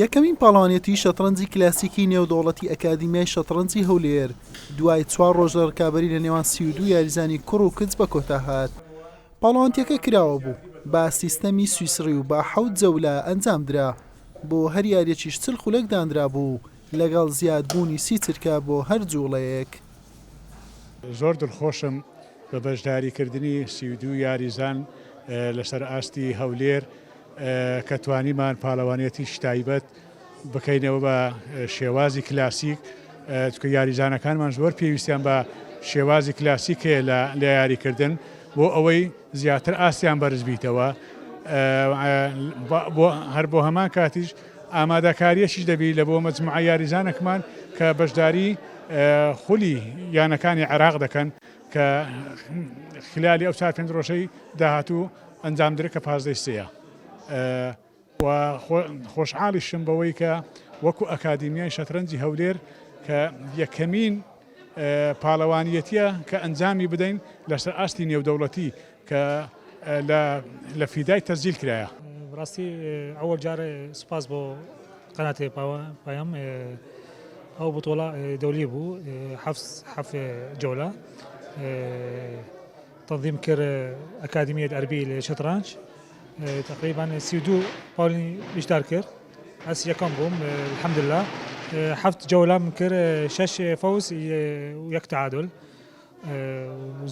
یەکەمین پاڵەوانێتی شەتڕەنجی کلاسیکی نێودەوڵەتی ئەکادیمیای شەتڕەنجی هەولێر دوای چوار ڕۆژ لە ڕکابەری لە نێوان سی و دوو یاریزانی کوڕ و کچ بە کۆتا هات پاڵەوانتیەکە کراوە بوو با سیستەمی سویسڕی و با حەوت جەولە ئەنجام درا بۆ هەر یاریەکیش چل خولەک دانرا بوو لەگەڵ زیادبوونی سی چرکە بۆ هەر جوڵەیەک زۆر دڵخۆشم بە بەشداریکردنی سی و دوو یاریزان لەسەر ئاستی هەولێر کە توانیمان پاڵەوانێتیش تایبەت بکەینەوە بە شێوازی کلاسیک چکە یاریزانەکانمان زۆر پێویستیان بە شێوازی کلاسیک هەیە لە لە یاریکردن بۆ ئەوەی زیاتر ئاستیان بەرزبیتەوە بۆ هەر بۆ هەمان کاتیش ئامادەکارییەکیش دەبیت لە بۆ مەجموعە یاریزانەکمان کە بەشداری خولی یانەکانی عێراق دەکەن کە خلالی ئەو چار پێنج ڕۆژەی داهاتوو ئەنجام درێت کە پازدە ی سێیە و خۆشحاڵیشم بەوەی کە وەکو ئەکادیمیای شەترەنجی هەولێر کە یەکەمین پاڵەوانیەتیە کە ئەنجامی بدەین لەسەر ئاستی نێودەوڵەتی کە لە فیدای تەسجیل کرایە. بەڕاستی ئەوەڵ جار سوپاس بۆ قەناتێ پایەم ئەو بتۆڵە دەولی بوو حەف جۆلە تەظیم کرد ئەکادمیت ئەربی لە شەترانج تقریبان سی دوو پاڵی بیشتار کرد ئەس یەکەم بووم الحمدللە حەفت جەولەم کرد شەش فەوز و یەک تعادل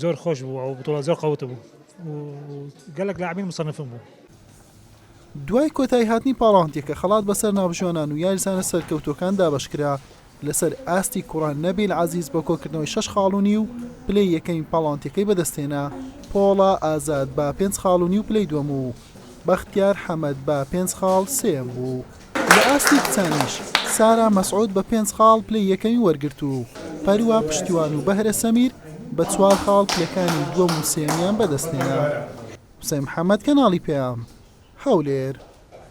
زۆر خۆش بوو ئەو بتوڵە زۆر قەوت بوو گەلک لاعبین مصنفم بوو دوای کۆتایی هاتنی پاڵاوتنێکە خەڵات بەسەر ناوبژیوانان و یاریزانە سەرکەوتووەکان دابەشکرا لەسەر ئاستی کوڕە نەبیل عەزیز بە کۆکردنەوەی شەش خاڵ و نیو پلەی یەکەمی پاڵەوانتییەکەی بەدەستهێنا، پۆڵا ئازاد بە پێنج خاڵ و نیو پلەی دووەم و بەختیار حەمەد بە پێنج خاڵ سێیەم بوو. لە ئاستی کچانیش سارا مەسعود بە پێنج خاڵ پلەی یەکەمی وەرگرت و پەروە پشتیوان و بەهرە سەمیر بە چوار خاڵ پلەکانی دووەم و سێیەمیان بەدەستهێنا. حوسەین محەمەد، کەناڵی پەیام، هەولێر.